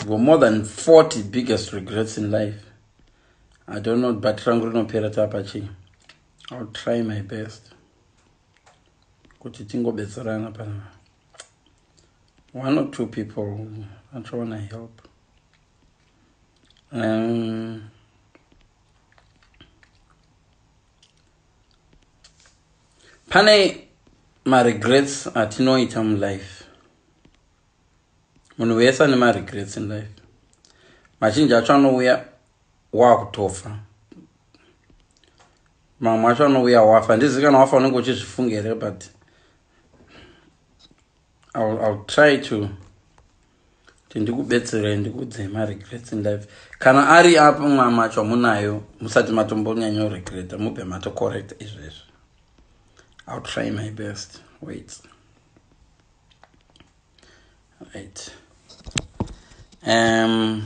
go more than 40 biggest regrets in life i don't know but rangu rinopera tapa chii ill try my best kuti tingobetserana pana one or two people achaona help um, pane maregrets atinoita mulife munhu wese ane maregrets in life mazhinji acho anouya wakutofa mamwe acho anouya wafa handizivi kana wafa unenge uchizvifunga here but I'll, I'll try to kuti ndikubetserei ndikuudzei maregrets in life kana ari apo mwama acho amunayo musati matombonyanya uregreta mubve matocorrect izvezvi ill try my best wait right um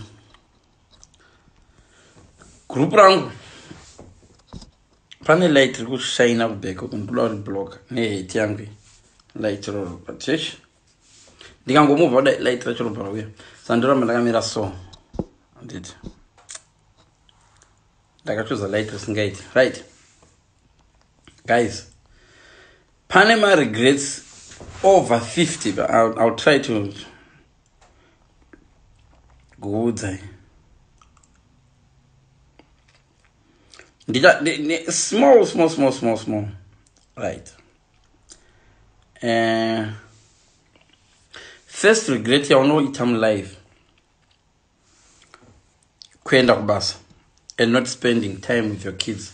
group rangu pane light riri kushaina kubheka uku ndikuda kuti block neheti yangu light roro but yesh ndikangomubva kudai light racho robva rauya sandoramba ndakamira so anditi ndakachuza light risingaiti right guys pane maregrets over 50 but I'll, I'll try to kuudzai ndicha small small small small small right uh, first regret yaunoita mulife kuenda kubasa and not spending time with your kids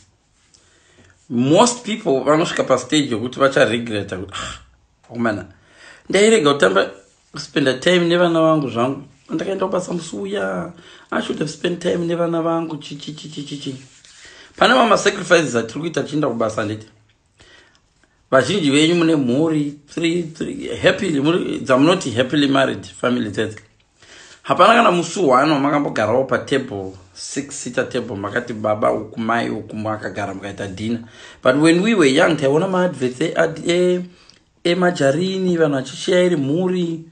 most people vanosvika pastage yokuti vacharegreta kuti ah, akomana ndairega kutamba kuspenda time nevana vangu zvangu andakaenda kubasa musi uya i should have spend time nevana vangu chichichichichichi pane mamasacrifices atiri kuita tichienda kubasa handiti vazhinji venyu mune mhuri dzamunoti happily married family dzedzi hapana kana musi one wamakambogarawo patable six seater table makati baba uku mai uku makagara mukaita dinner but when we were young taiona maadverts emajarini e, e, e vanhu vachisheya iri mhuri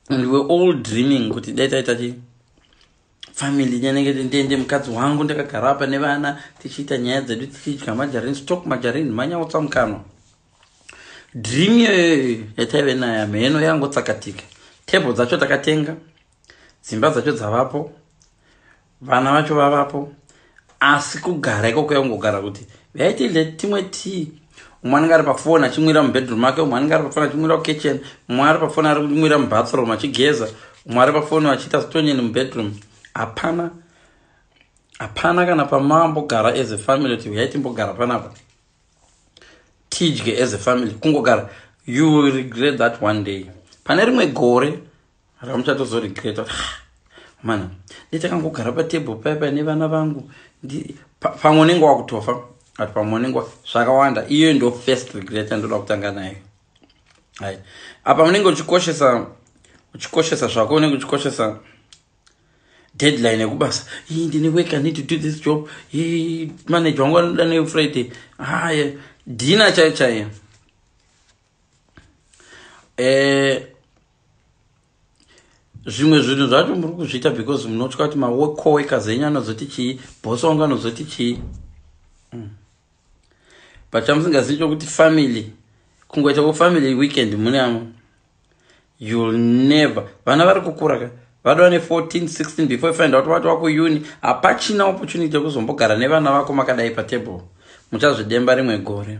and we were all dreaming kuti dai taita chi family nyanenge ndiende mukadzi wangu ndakagara apa nevana tichiita nyaya dzedu tichidya majarini stock majarini manyautsa mukanwa dream iyoyoyo yataive nayo hamheno yangotsakatika table dzacho takatenga dzimba dzacho dzavapo vana vacho vavapo asi kugara ikoko yaungogara kuti vaitile timwe tii umwe anenge ari pafoni achimwira mubedroom ake umwe anenge ari pafoni achimwira kukitchen umwe ari pafoni ari kumwira mubathroom achigeza umwe ari pafoni achiita zitonyeni mubedroom hapana hapana kana pamambogara as a family kuti huyai timbogara panapa tidye as a family kungogara you will regret that one day pane rimwe gore Hara muchatozo regret kuti ah, mana ndechakangogara patable paya paya nevana vangu pamwe unenge wakutofa but pamwe unenge zvakawanda iyoyo ndo first regret yandoda kutanga nayo hai apa unenge uchikoshesa uchikoshesa zvako unenge uchikoshesa deadline yekubasa ii ndine work i need to do this job ii manager wangu anoda nefriday haya dina chaiyo chaiyo eh, zvimwe zvinhu zvacho muri kuzviita because munotya kuti macoeka zenyu anozoti chii bosi wangu anozoti chii hmm. but chamusingazivi chokuti family kungoita kufamily weekend mune amwe youll never vana vari kukura ka vadova ne14 16 before find out vati wakuuni hapachina opportunity yekuzombogara nevana vako makadai patable muchazvidemba rimwe gore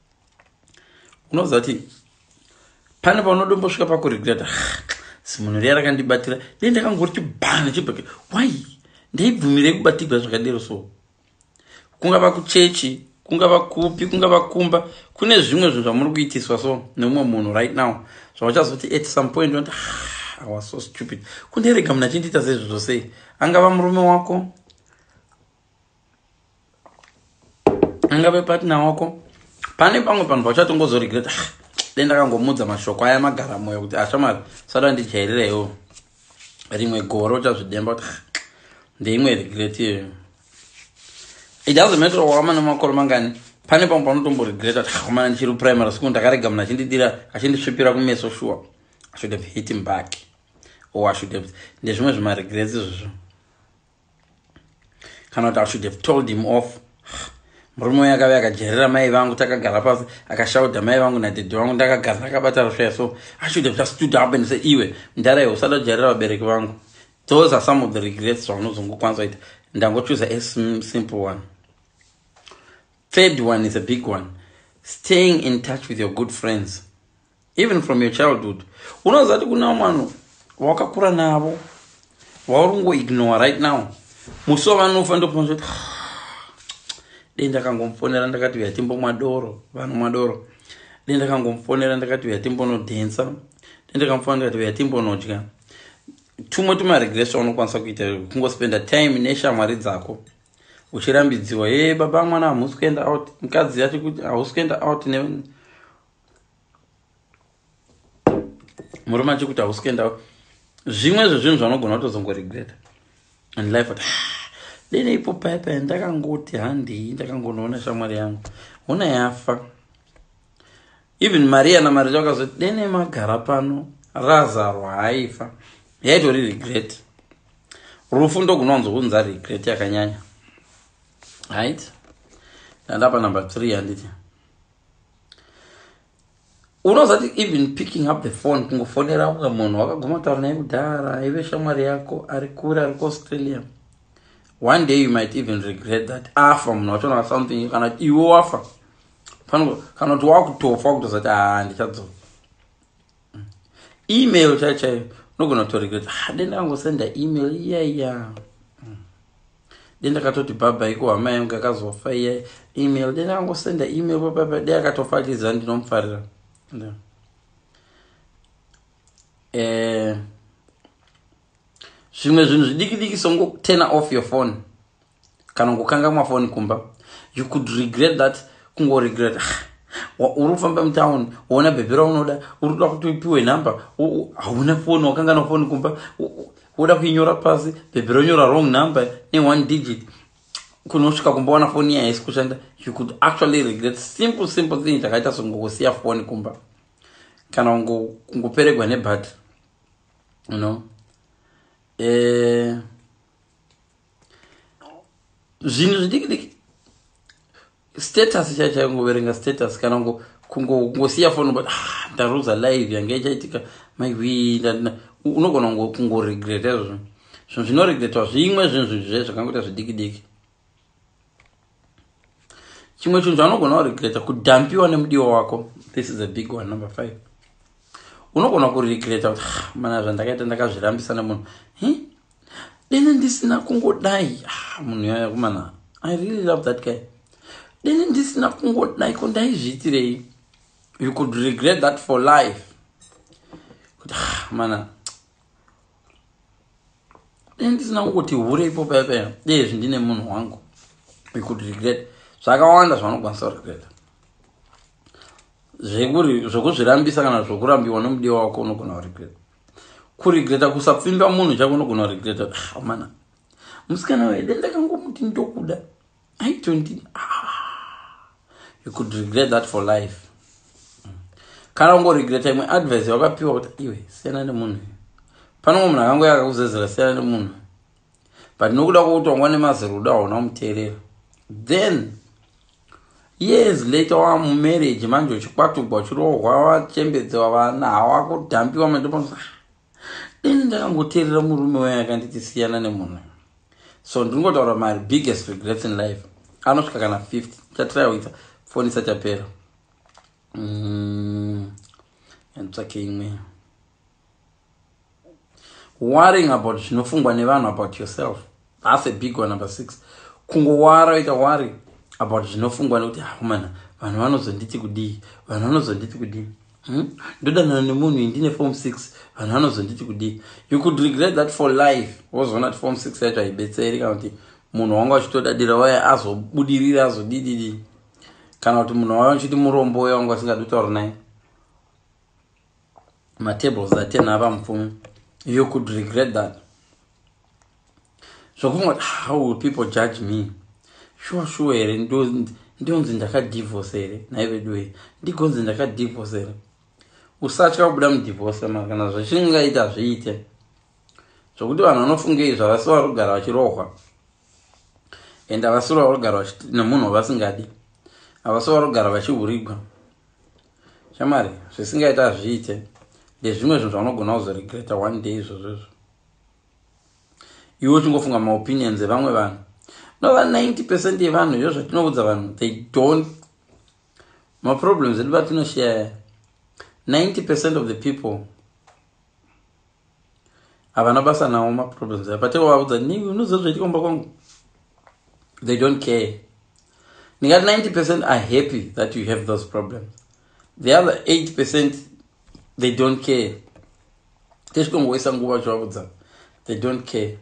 unoziva kuti pane paunodombosvika pakuregreta zimunhu riya rakandibatira dei ndakangori chibhana chibhake why ndaibvumirei kubatigwa zvakadero so kungava kuchechi kungava kupi kungava kumba kune zvimwe zvinhu zvamuri kuitiswa so neumwe munhu right now zvauchazoti at some point unoti ah, was so stupid kundirega munhu achindiita sezvizvo sei angava murume wako angave partner wako pane pamwe panhu pachatongozoregreta ah, dai ndakangomudza mashoko aya magara moyo kuti ashamari ah, sada ndijairirewo rimwe gore uchazvidemba kuti ah, ndeimwe regret iyoyo it doesn't matter wakamana makore mangani pane pamwe panotomboregreta kuti akamana ndichiri primary school ndakarega munhu achindidira achindisvipira kumeso sure i should have hit him back or i should have ndezvimwe zvimaregrets izvozvo kana kuti i should have told him off murume uyo akave akajerera mai vangu takagara pasi akashaudha mai vangu nadhedhi vangu ndakagara ndakabata rusvaya so i should have just stood up and say iwe mdara iwe usada kujerera vabereki vangu those are some of the regrets zvaunozongokwanisa kuita ndangochuza a simple one third one is a big one staying in touch with your good friends even from your childhood unoziva kuti kuna vanhu wakakura navo vauri kungoignore right now musi wavanofa ndokuti dei ndakangomufonera ndakati uya timbomwa doro vanhu mwa doro dei ndakangomufonera ndakati uya timbonodhensa dei ndakamufonera ndikati uya timbonodya tumwe tumaregresa unokwanisa kuita kungospenda time neshamwari dzako uchirambidziwa e baba mwana hamusi kuenda out mukadzi yati kuti hausi kuenda out ne murume achikuti hausi kuendawo zvimwe zvezvinhu zvanogona kutozongoregreta and life ati ah, dene ipo paipa ndakangoti handii ndakangonoona shamwari yangu hona yafa even maria namaria vakazoti dene magara pano razarwa haifa yaitori regret rufu ndogunowanzo kunza regret yakanyanya right ndandapa number three handiti unozati even picking up the phone kungofonera kunga munhu wakaguma taura naye kudhara aive shamwari yako ari kure ari kuaustralia one day you might even regret that afa munhu wachona something kana kuti iwe wafa kana kuti wakutofa wakutozati haa ah, ndichadzoka email chaiyo chaiyo unogona kutorega kuti ha ah, denda kangosenda email iya iya mm. denda katoti baba iko hama yangu akazofa iya email denda kangosenda email baba de akatofa achiziva ndinomufarira eh, zvimwe zvinhu zvidiki diki songo turner off your phone kana kukangamwa foni kumba you could regret that kungoregret uri kufamba mutown woona bhebhi raunoda uri kuda kuti upiwe number hauna foni wakanganwa foni kumba woda kuinyora pasi bhebhi ronyora wrong number neone digit kunosvika kumba wana foni yahaisi kushanda you could actually regret simple simple thing chakaita songokusiya foni kumba kana kungoperegwa nebhati you know eh, zvinhu zvidiki diki status chaichai kungoverenga status kana ngo kungosiya foni but ah, ndaruza live yange ichaitika maiwi unogona kungoregreta izvozvo zvinhu zvinoregretwa zvimwe zvinhu zvinhu zvae zvakangoita zvidiki diki chimwe chinhu chaunogona kuregreta kudhampiwa nemudiwa wako this is a big one number five unogona kuregreta kuti ah, mana zvandakaita ndakazvirambisa nemunhu dene ndisina kungodai ah, munhu yaya kumana i really love that guy dene ndisina kungodai ko ndaizviitirei you could regret that for life kuti ah, mana ndisina kungoti hure ipopa yepena dezvi ndine munhu wangu ikuti regret zvakawanda zvaunokwanisa kuregreta zvekuri zvokuzvirambisa kana zvokurambiwa nomudiwa wako unogona kuregreta kuregreta kusapfimba munhu chako unogona kuregreta amana ah, musikana wede ndakangomuti ndokuda I don't think, ah, you could regret that for life kana ungoregreta imwe advice yawakapiwa kuti iwe siyana nemunhu panongo munhu akango yakakuzezera siyana nemunhu but nokuda kwokutongwa nemazirudo hauna kumuteerera then years later wa mumarriage manje uchikwatugwa uchirohwa wachembedzewa vana hawakudhambiwa mandiponosa ini ndakangoteerera murume waye akanditi siyana nemunhu so ndiri ngotaura mari biggest regrets in life anosvika kana 50 chatiraiwita foni isati yapera mm, nditsvake imwe worrying about zvinofungwa nevanhu about yourself That's a big one number six. Kungowara ita worry about zvinofungwa nekuti hakumana ah, vanhu vanozonditi kudii vanhu vanozonditi kudii hmm? ndodanana nemunhu iyi ndine form six vanhu vanozonditi kudii you could regret that for life wozoona kuti form six yacho haibetseri kana kuti munhu wanga uchitodadira waye azobudiriri azodididi kana kuti munhu waye uchiti murombo uye wanga usingadi kutaura naye matables atenhava mupfumi you could regret that zvokufunga kuti how will people judge me shuwa shuwa here ndonzi ndakadivhose here nhai vedu wee ndigonzi ndakadivhose here usatya kubuda mudivhose ma kana zvichingaita zviite zvokuti vanhu vanofunga izvi havasi vari kugara vachirohwa and havasi vari kugara nemunhu wavasingadi havasi vari kugara vachihurigwa shamari zvisingaita zviite ndezvimwe zvinhu zvaunogona kuzoregreta one day izvozvo izvo iwe uchingofunga maopinions evamwe vanhu nova 90 percent yevanhu izvo zvatinoudza vanhu they don't maproblems edu vatinoshaya 90 percent of the people havana basa nawo maproblems aya pateko vaudza ni unoziva zvaitika kumba kwangu they don't care ndingati 90 percent are happy that you have those problems the other 8 percent they don't care tezvikongoisa nguva zvavudza they don't care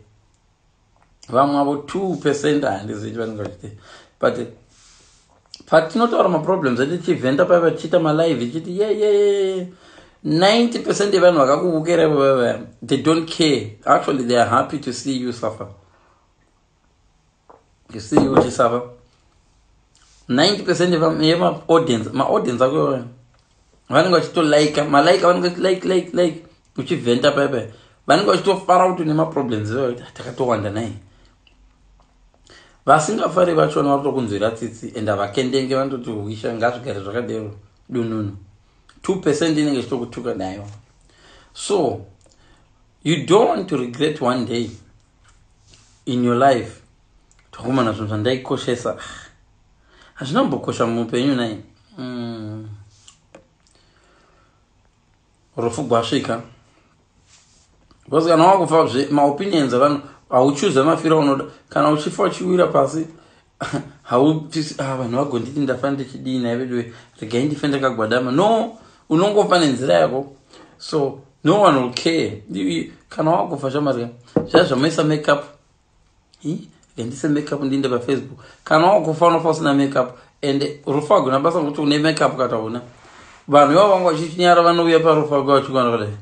vamwe avo two percent handizivi vanenge vachite but patinotaura maproblems edu chivhenda pave vachiita malive ichiti yeyeye 90 percent yevanhu vakakuvukerai vavava they don't care actually they are happy to see you suffer you see you just have 90% of my audience my audience are going vanenge vachito like malike vanenge vachi like like like uchivhenta pepe vanenge vachitofara kuti une maproblems iwayo takatowanda nai vasingafari vachona vari kutokunzwira tsitsi and havakendenge vanototi huisha ngazvigare zvakadero dununu two percent inenge ichitokutuka nayo so you don't want to regret one day in your life tokumana zvinhu zvandaikoshesa hazvina kumbokosha muupenyu nai mm. rufu gwasvika because kana wakufa zve maopinions avanhu hauchuza mafira unoda kana uchifa uchiwira pasi haupisi ah, vanhu vagonditi ndafa ndichidii naye veduwe regai ndife ndakagwadama no unongofa nenzira yako so no one will care kana wakufa shamari zvaa zvamoisa makeup ndise makeup ndiinde pafacebook kana wakufa unofa usina makeup and rufa wagona basa nokuti une makeup kataona vanhu ivavo vanga vachichinyara vanouya parufa wake vachikwana kudai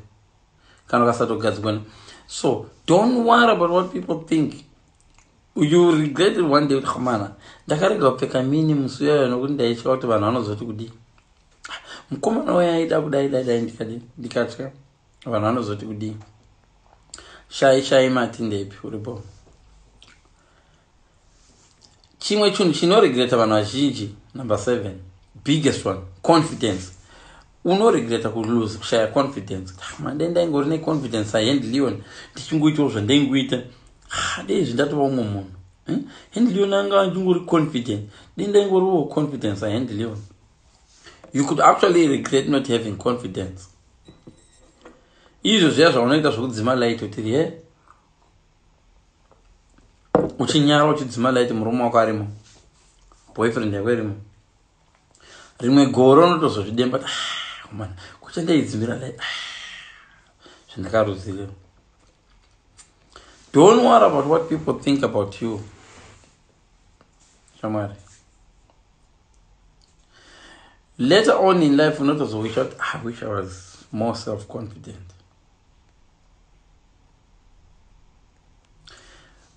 kana kasatogadzikwana so don't worry about what people think you regret it one day kuti hamana ndakarega kupfeka mini musi uyayo nokuti ndaitya kuti vanhu vanozoti kudii mukomana waye aida kudai dai dai ndikadii ndikatya vanhu vanozoti kudii shai shai mati ndepi uripo chimwe chinhu chinoregreta vanhu vazhinji number seven biggest one confidence Uno regreta ku lose kushaya confidence. Ah, mande ndaingori ne confidence sa Hand Leon ndichingoitawo zvandaingoita. Ah, dei izvi ndatova umwe munhu. Hmm? Hand Leon anga achingori confident. Dei ndaingoriwo confidence sa Hand Leon. You could actually regret not having confidence. Izvo zviya zvaunoita zvekudzima light utiri he. Uchinyara uchidzima light murume wako arimo. Boyfriend yako irimo. rimwe goro unotozozvidemba ah, man kucha ndaidzimira lai ah, zvandakaruziva don't worry about what people think about you shamwari later on in life unotozowisha kuti ah, i wish i was more self confident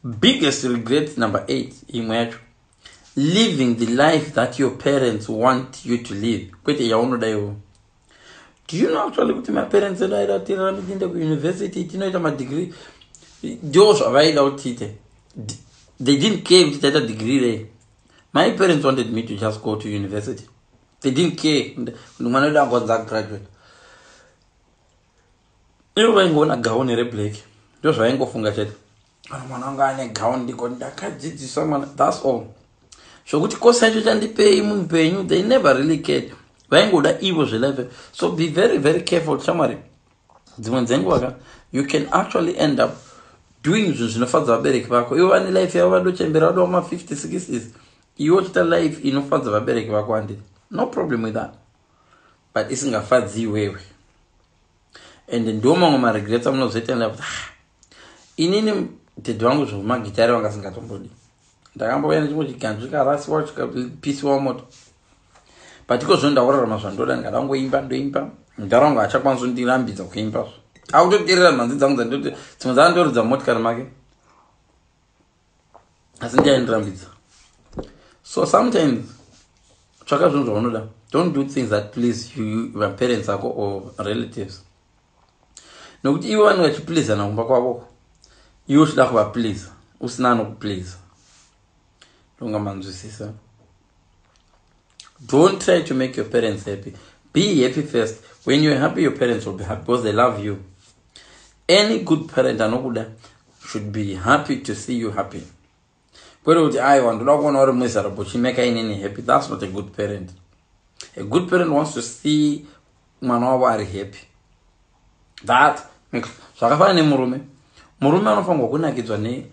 biggest regret number eight imwe yacho living the life that your parents want you to live kwete yaunoda iwo do you know actually kuti maparents edu aida kuti tirarame tiinde kuuniversity tinoita madegree ndo zvavaida kuti tiite they didn't care kuti taita degree rei my parents wanted me to just go to university they didn't care kuti mwana wedu angonzi agraduate ivo vaingoona gauni reblack ndo zvavaingofunga chete kana mwana wanga ane gown ndiko ndakadzidzisa mwana thats all zvokuti kosi yacho chandipei munhu penyu they never really cared vaingoda ivo zvelife so be very very careful shamwari dzimwe dzenguva ka you can actually end up doing zvinhu zvinofadza vabereki vako ivo vane life yavo vadochembera vado vama 50 60 iwe uchita life inofadza vabereki vako handiti no problem with that but isingafadzi iwewe and ndo mamwe maregrets amunozoita nda kuti ah, inini dhedhi vangu zvemagitare vanga singatombodi ndakambouya nechimwe chiganzvi karasiwa chikapisiwa moto but iko zvo ndaurarama zvandoda ndangoimba ndoimba mudhara wangu achakwanisa kundirambidza kuimba zvo akutoterera mhanzi dzangu dzandoti dzimwe dzandoridza motikari make asi ndiyaindirambidza so sometimes tsvaka zvinhu zvaunoda don't do things that please you vaparents ako or relatives nokuti ivo vanenge vachiplizana kumba kwavoko iwe uchida kuvapliza usina anokupliza ndonga manzwisisa don't try to make your parents happy be happy first when you're happy your parents will be happy because they love you any good parent anokuda should be happy to see you happy kwete kuti aiwa ndoda kuona uri mwezara bochimeka inini happy thats not a good parent a good parent wants to see mwana wavo ari happy that makes zvakafanana nemurume murume anofanirwa kunakidzwa ne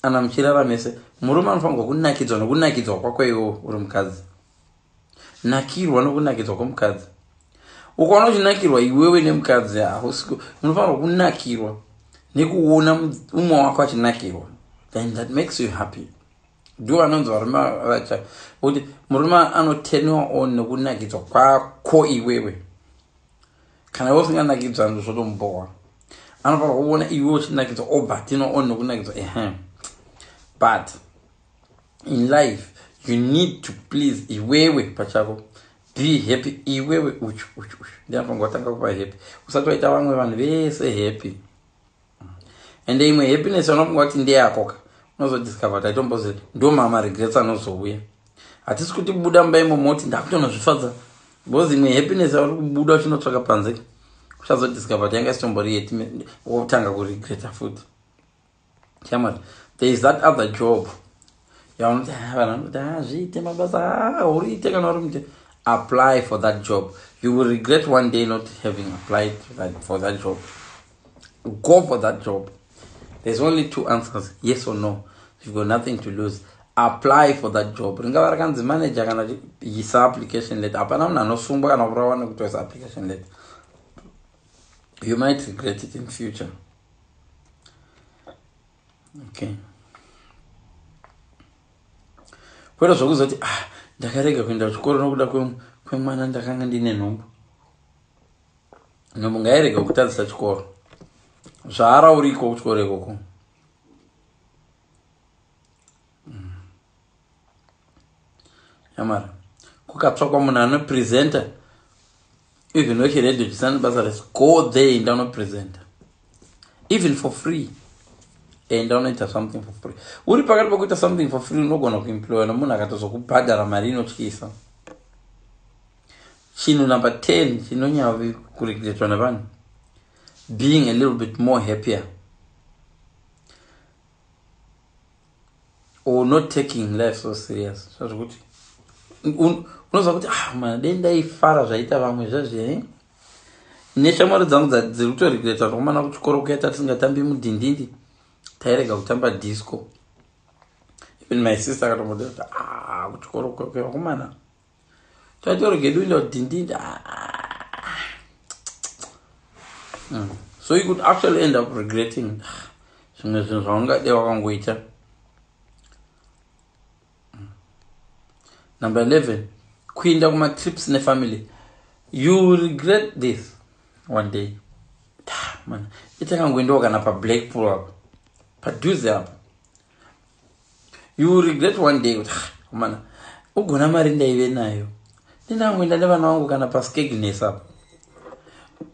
kana muchirara mese murume anofanirwa kunakidzwa nokunakidzwa kwako iwo uri mukadzi nakirwa nokunakidzwa kwomukadzi ukaona uchinakirwa iwewe nemukadzi hausi unofanirwa kunakirwa nekuona umwe wako achinakirwa then that makes you happy ndo vanonzi varume vacha kuti murume anotenwa on nekunakidzwa kwako iwewe kana iwe usinganakidzwa ndo zvotombowa anofanirwa kuona iwe uchinakidzwa obva tinoon nokunakidzwa ehe but in life you need to please iwewe pachako be happy iwewe uchu uchu uchu ndianofanirwa kutanga kuva happy usati waita vamwe vanhu vese happy ende imwe happiness anofunga kuti ndeyakoka unozodiscover taitombozi ndo mama regrets anozouya hatisi kuti buda mumba imo moti ndakutonozvifadza because imwe happiness auri kubuda uchinotsvaka panze uchazodiscover kuti yanga isitombori yeti wotanga kuregreta futi chamari there is that other job yaunoti ha vanhu vanoti ha zviite mabasa ha uriite kana uri mute apply for that job you will regret one day not having applied that, for that job go for that job there's only two answers yes or no you've got nothing to lose apply for that job ringava rakanzi manager kana isa application letter hapana munhu anosungwa kana kurawa nekutoisa application letter you might regret it in future okay kwete zvokuzoti ah ndakarega kuenda kuchikoro nokuda kwemwana ndakanga ndine nhumbu nhumbu ngairega kutadzisa chikoro zvaara uriko kuchikoro ikoko yamara kukatsvakwa munhu anopresenta even wechiredio chisina basa rese go there enda unopresenta even for free enda unoita something for free uri pakati pakuita something for free unogona kuemploya nomunhu akatozokubhadhara mari inotyisa chinhu number 10 chinonyavi kuregretwa nevanhu being a little bit more happier or not taking life so serious zvazvokuti unoziva kuti ah mana dei ndaifara zvaita vamwe zvazvee eh? neshamwari dzangu dziri kutoregreta zvakumana kuchikoro kuyaita tisingatambi mudhindindi tairega kutamba disco even my sister akatomboda kuti ah kuchikoro kwekumana Title regedu ino dindindi. Ah, ah. Hmm. So you could actually end up regretting zvimwe zvinhu zvaungade wakangoita. Hmm. Number 11. Kuinda kuma trips ne family. You regret this one day. Man, ita kangoendawo kana pa Blackpool apo. Padhuze apo. you will regret one day kuti kumana ugona mari ndaive nayo ndinangoenda nevana vangu kana paskegnes apo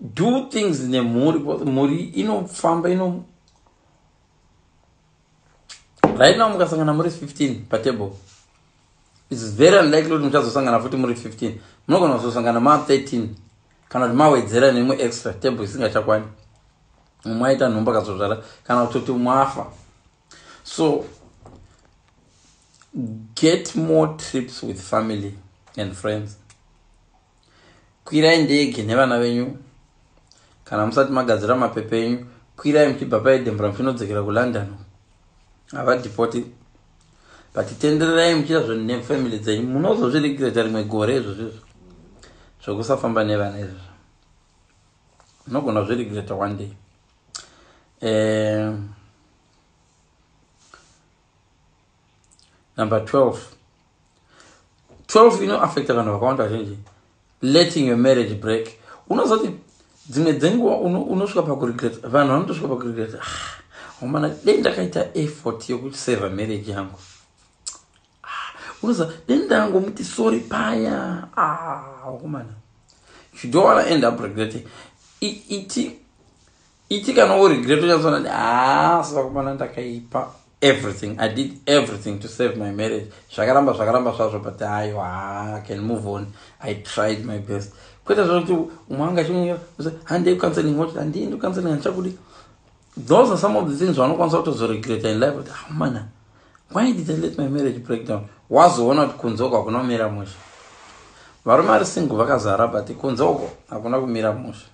do things nemhuri bcause mhuri inofamba ino right now mukasangana muri 15 patable its very unlikely kuti muchazosangana futi muri 15 munogona kuzosangana ma 13 kana kuti mawedzera nemu extra table isingachakwani umwe aita nhumbu akazozvara kana kutoti umwe afa so get more trips with family and friends kwirai ndege nevana venyu kana musati magadzira mapepa enyu kwirai muchibva paedembura muchinodzokera kulondon havadhipoti but tendererai muchiita zvinhu nefamily dzenyu munozozviregreta rimwe gore izvozvo izvo zvokusafamba nevana izvozvo Unogona zve regret one day. Eh, number 12. 12 ino affecta vanhu vakawanda vazhinji. Letting your marriage break. Unozoti dzimwe dzenguva unosvika uno pakuregret. Vanhu vanotosvika pakuregret. Ah, homana dei ndakaita effort yokuseva marriage yangu. Ah, unoza dai ndangomuti sorry paya ah, wakomana ah, you don't wanna end up regretting iti iti kana wo regret uchazoona kuti haa ah, sakomana ndakaipa everything i did everything to save my marriage zvakaramba zvakaramba zvazvo but hayo haa can move on i tried my best kwete zvakuti umwe anga chimunyira handei kucounseling woti handiendi kucounseling handichakudi those are some of the things vanokwanisa kutozoregreta in life kuti amana ah, why did i let my marriage break down wazoona kuti kunze uko hakuna kumira musha varume vari single vakazara but kunze uko hakuna kumira musha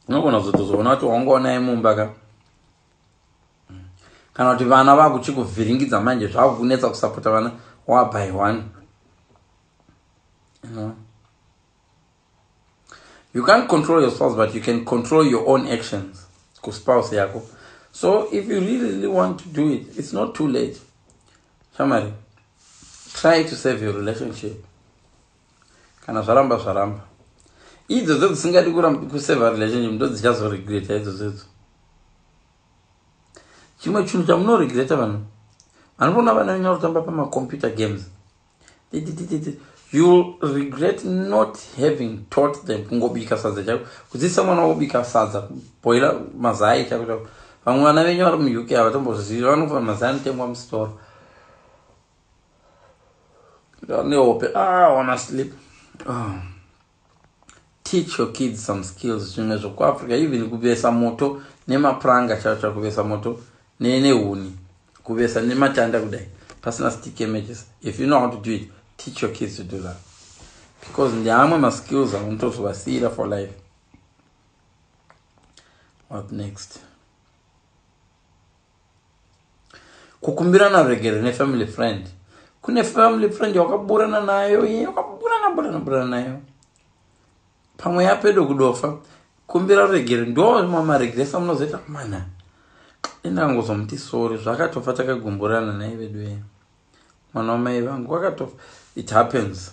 unogona kuzotozoona kuti wangoonai mumba ka kana kuti vana vakuchikuvhiringidza manje zvakukunetsa kusapota vana wabyone you know? you can't control your spouse but you can control your own actions kuspouse yako so if you really, really want to do it it's not too late shamari try to save your relationship kana zvaramba zvaramba idzodzo dzisingadi kuseva relationship ndo dzichazoregreta idzodzodzo chimwe chinhu chamunoregreta vanhu vanoona vana venyu varikutamba pamacompyuter games youll regret not having taught them kungobika sadza chako kudzidzisa mwana wobika sadza kuboila mazai chako chako vamwe vana venyu vari muuk havatombozivi vanofa mazai anotengwa musitoro nehope ah, honestly ah. Teach your kids some skills zvimwe zvokuafrica even kuvesa moto nemapuranga chaiwo chaiwo kuvesa moto nehuni kuvesa nematanda kudai pasina stick images if you know how to do it teach your kids to do that because ndeamwe maskills aunotozovasiira for life what next kukumbirana ruregerero nefamily friend kune family friend yawakaburana nayo iye wakaburana burana burana nayo pamwe yapedo kudofa kumbira ruregerero ndo mamaregresa munozoita mana indangozomuti sori zvakatofa takagumburana naye veduwe mwana wamai vangu wakatofa it happens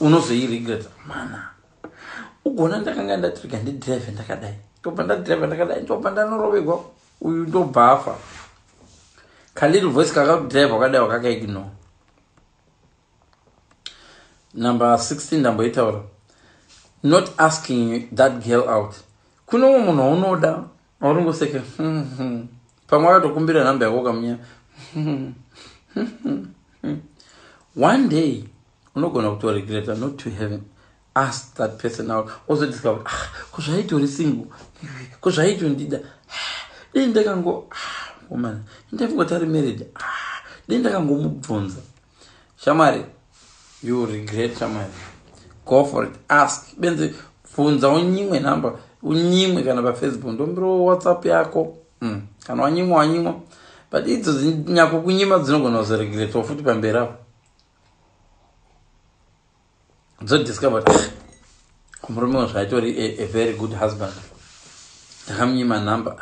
unozoiregreta mana ugona ndakanga ndatirega ndidrive ndakadai ndobva ndadrive ndakadai ndobva ndanorovegwa uyu ndobva afa kaliri voice kakakudrive wakadai wakakaigno number 16 ndamboitaura not asking that girl out kune umwe munhu waunoda Orungoseka. Pamwe akatokumbira number yako kamunya. One day unogona kuto regret not to have asked that person out. Also discover ah kuzvaito single. Kuzvaito ndida. Ah, Dei ndakango ah woman. Ndakango tari married. Ah, Dei ndakango mubvunza. shamwari you regret shamwari go for it ask benzi bvunza unyimwe number unyimwe kana pafacebook ndombiro whatsapp yako mm. kana wanyimwa wanyimwa but idzo nyako kunyima dzinogona kuzoregretoa futi pamberi apo dzodiscover murume wazvo aitori a very good husband ndakamunyima number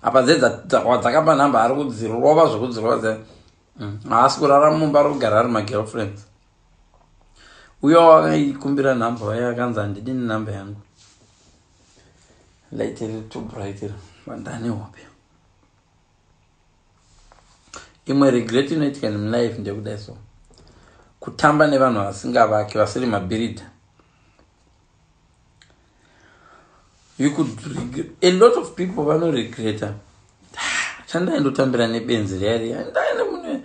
apa dze wadzakapa number ari kudzirova zvekudzirova dze mm, haasi kurara mumba ari kugara ari magirlfriends uyo wakaikumbira number waye akanzi handidi nenumber yangu laitiri to brighter vandane hope imwe regret inoitika in life ndekudai so kutamba nevanhu vasingavaki vasiri mabirida you could regret. a lot of people vanoregreta ah, chandaindotambira nebenzi riya riya ndaine mune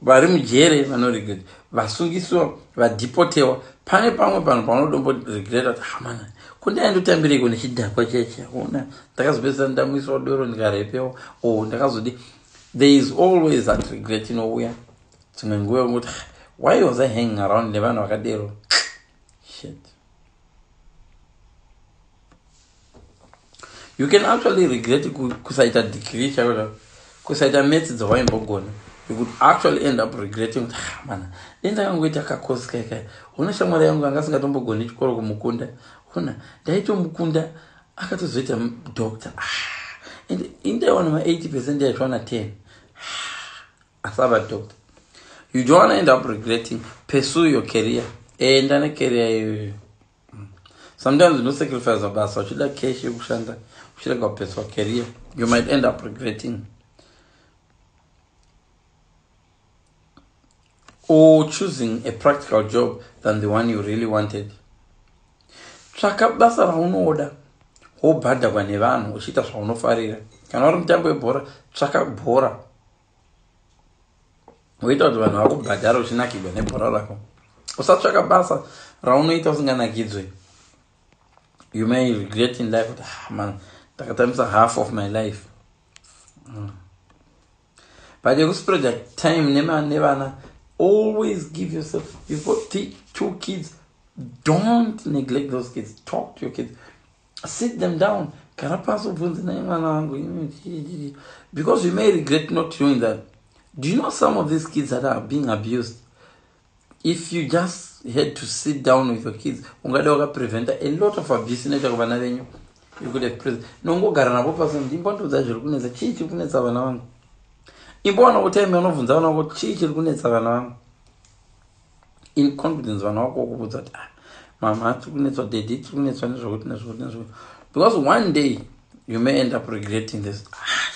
vari mujere vanoregret vasungisiwa vadhipotewa pane pamwe panhu paunodombo regret kuti hamana kundaindotambireko nechidhakwa cheche ona ndakazopedzisa ndamuiswa doro ndikarepewa o oh, ndakazodi there is always that regret inouya dzimwe nguva yokuti why was i hanging around nevanhu vakadero shit you can actually regret kusaita degree chaio kusaita metsi dzawaimbogona you could actually end up regretting kuti ah, mana dai ndakangoita kakosi kaikai hona shamwari yangu anga asingatombogoni chikoro kumukunda hona ndaitomukunda akatozoita doctor ah, and indaiwana ma80 percent yaitwana 10 ah, asava doctor you don't wanna end up regretting pursue your career enda necareer iyoyo sometimes no sacrifice mabasa uchida cash yekushanda uchirega kupeswa career you might end up regretting or choosing a practical job than the one you really wanted tsvaka basa raunoda wobhadhagwa nevanhu uchiita zvaunofarira kana uri mutambo webhora tsvaka bhora woita kuti vanhu vakubhadhara uchinakigwa nebhora rako usatsvaka basa raunoita usinganakidzwe you may regret in life kuti ah, man ndakatambisa half of my life mm. but yekuspreja time nevana always give yourself you've got two kids don't neglect those kids talk to your kids sit them down gara pasi ubvunze naye mwana wangu because you may regret not doing that do you know some of these kids that are being abused if you just had to sit down with your kids ungada wakapreventa a lot of abuse inoita kuvana venyu you could have present nongogara navo pasi ndi imbondiudza zviri kunetsa chii chiri kunetsa vana vangu imboona kuti aime unobvunza vana vako chii chiri kunetsa vana vangu in confidence vanhu vakokuvudza kuti ah, mama tiri kunetswa dedi tiri kunetswa nezvokuti nezvokuti nezvokuti because one day you may end up regretting this ah,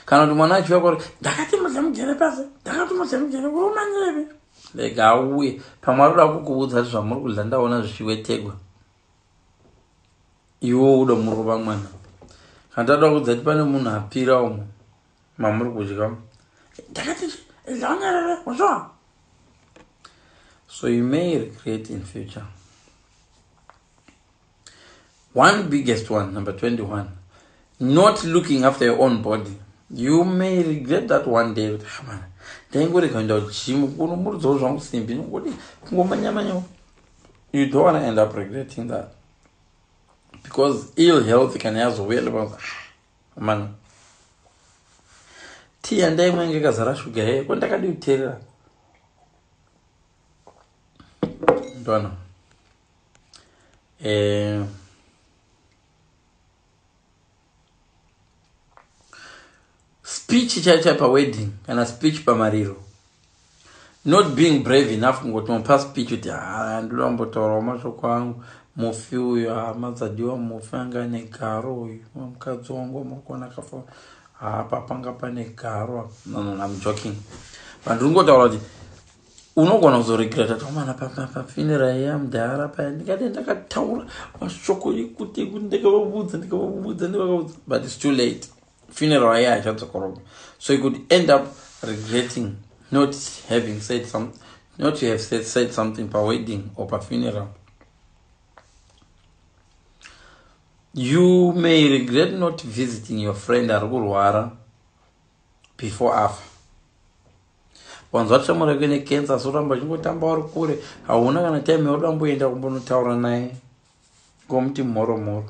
kana kuti mwana achiuya kwauri ndakati mudle mujere pasi ndakati mudle mujere urumanyevi rega auye pamwe ari kuda kukuvudza kuti zvamuri kudla ndaona zvichiwetegwa iwo uda murova mwana kana tatoda kudza kuti pane munhu apira umo mamuri kudya ndakati ndanyerere wazva so you may regret in future one biggest one number 21 not looking after your own body you may regret that one day kuti hamana ndaingorega kuenda kujimu kunomurudzawo zvangu simbi nokudii kungomanyamanyawo you don't want to end up regretting that because ill health kana yazouya lepa ah, Amana. Tea yandaimwa inge kazara shuga yeye ko ndakadi kuterera. Ndwana. Eh Speech chaicha pa wedding kana speech pa mariro. not being brave enough kungoti mupa speech kuti haa ndoda kumbotaurawo mashoko angu mufi uyo hama dzadiwa mufi anga ane garo uyu mukadzi wangu wamakona kafa haa papanga pane garo no, no, I'm joking but ndingotaura kuti unogona kuzoregreta tomana pafinira iye amudhara paya ndikati ndakataura mashoko ekuti ndikavavudza ndikavavudza ndivakavudza but it's too late funeral aye aishandisa korobha so you could end up regretting not having said some not to have said, said something pawedding or pafuneral you may regret not visiting your friend ari kurwara before afa wanzwa tishamwari yake necancer asi uramba uchingotamba uri kure hauna kana time yauri damboenda kumbonotaura naye ngomuti mhoro mhoro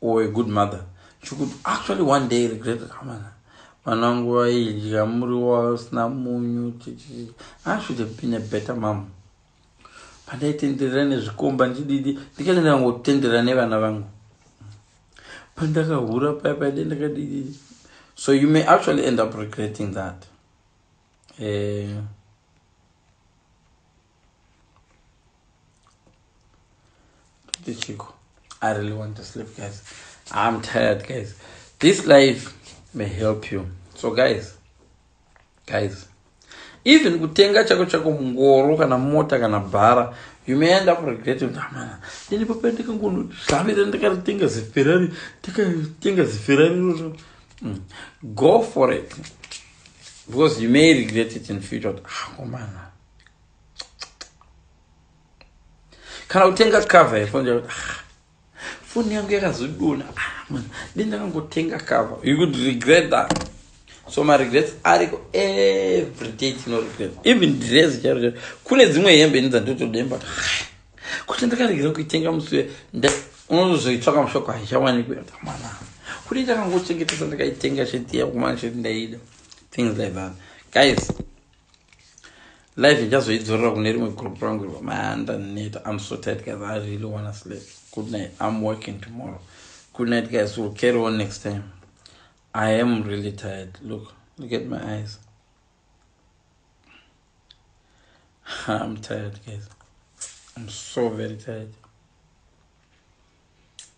or a good mother she could actually one day regret amana vana vangu vaidya muriwo wausina munyu i should have been a better mom pandaitenderera nezvikomba ndididi ndikaita ndikangotenderera nevana vangu pandakahura paya paide ndakadididi so you may actually end up regretting that eh, Chico, I really want to sleep, guys. I'm tired, guys. This life may help you. So, guys, guys, even kutenga chako chako mungoro kana mota kana bhara you may end up regretting kuti amana ini papa ndikangonozvavira ndikaritenga ziferari ndikatenga ziferari iroro hmm. go for it because you may regret it in future kuti akomana ah, kana kutenga cover yefoni ah, foni yangu yakazodona ah, de ndakangotenga cover you could regret that so maregrets ariko everyday tino regret even dress charo kune dzimwe hembe ini dzandotodemba ah, kuti ndakaregera kuitenga musi unozoitsvaka mushoko haichawanikwe mwana kuti ndakangochengetesa ndakaitenga chetiya kumana cheti ndaida things like that guys life ndichazoidzorera kune rimwe group rangu iro maanda neta im so tight guys i really wanna sleep good night im working tomorrow good night guys will carry on next time i am really tired look look at my eyes i'm tired guys i'm so very tired